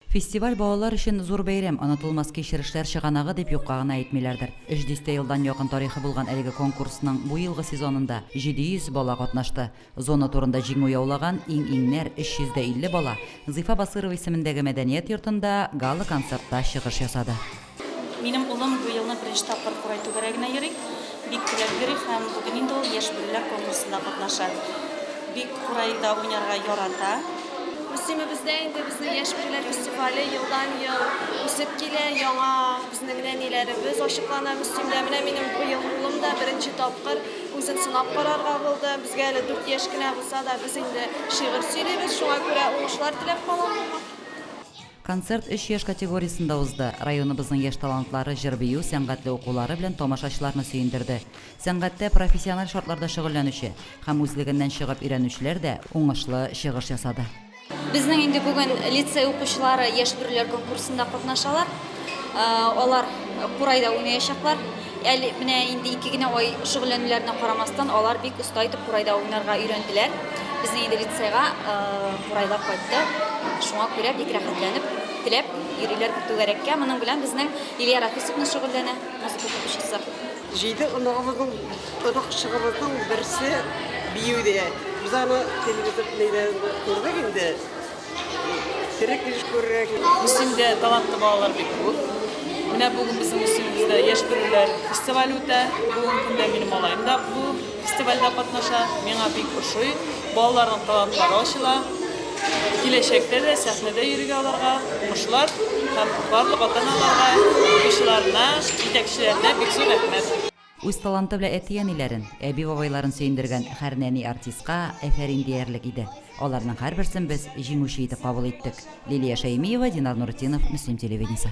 Фестиваль балалар өчен зур бәйрәм, онытылмас кичерешләр чыганагы дип юкка гына әйтмиләрдер. Өч дистә елдан якын тарихы булган әлеге конкурсның бу елгы сезонында 700 бала катнашты. Зона турында җиңү яулаган иң-иңнәр, 350 бала, Зифа Басырова исемендәге мәдәният йортында гала-концертта чыгыш ясады. Минем улым бу елны беренче тапкыр курай түгәрәгенә йөри. Бик теләп йөри һәм бүген инде ул Яшь бүреләр конкурсында катнаша. Бик курайда уйнарга ярата. Мөслимебездә инде безнең Яшь бүреләр фестивале елдан-ел үсеп килә, яңа безнең нәниләребез ачыклана Мөслимдә. Менә минем быел улым да беренче тапкыр үзен сынап карарга булды. Безгә әле дүрт яшь кенә булса да, без инде шигырь сөйлибез, шуңа күрә уңышлар теләп калам аңа. Концерт өч яшь категориясендә узды. Районыбызның яшь талантлары җыр-бию, сәнгатьле укулары белән тамашачыларны сөендерде. Сәнгатьтә профессиональ шартларда шөгыльләнүче һәм үзлегеннән чыгып өйрәнүчеләр дә уңышлы чыгыш ясады. Безнең инде бүген лицей укучылары яшь бүреләр конкурсында катнашалар. Алар курайда уйнаячаклар. Әле менә инде ике генә ай шөгыльләнүләренә карамастан, алар бик оста итеп курайда уйнарга өйрәнделәр. Безнең инде лицейга курайлар кайтты. Шуңа күрә бик рәхәтләнеп, теләп йөриләр бу түгәрәккә. Моның белән безнең Илья Рафисовна шөгыльләнә, музыка укытучысы. Җиде оныгыбызның, оныкчыгыбызның берсе биюдә. Без аны телевизор нидә күрдек инде. Терек еш күрерәк. Мөслимдә талантлы балалар бик күп. Менә бүген безнең Мөслимебездә яшь бүреләр фестивале үтә. Бүгенге көндә минем малаем да бу фестивальдә катнаша. Миңа бик ошый. Балаларның талантлары ачыла. Киләчәктә дә сәхнәдә йөрергә аларга уңышлар һәм барлык ата-аналарга, укучыларына, җитәкчеләренә бик зур рәхмәт. Үз таланты белән әти-әниләрен, әби-бабайларын сөендергән һәр нәни-артистка әфәрин диярлек иде. Аларның һәрберсен без җиңүче итеп кабул иттек. Лилия Шәймиева, Динар Нуртдинов, Мөслим телевидениесе.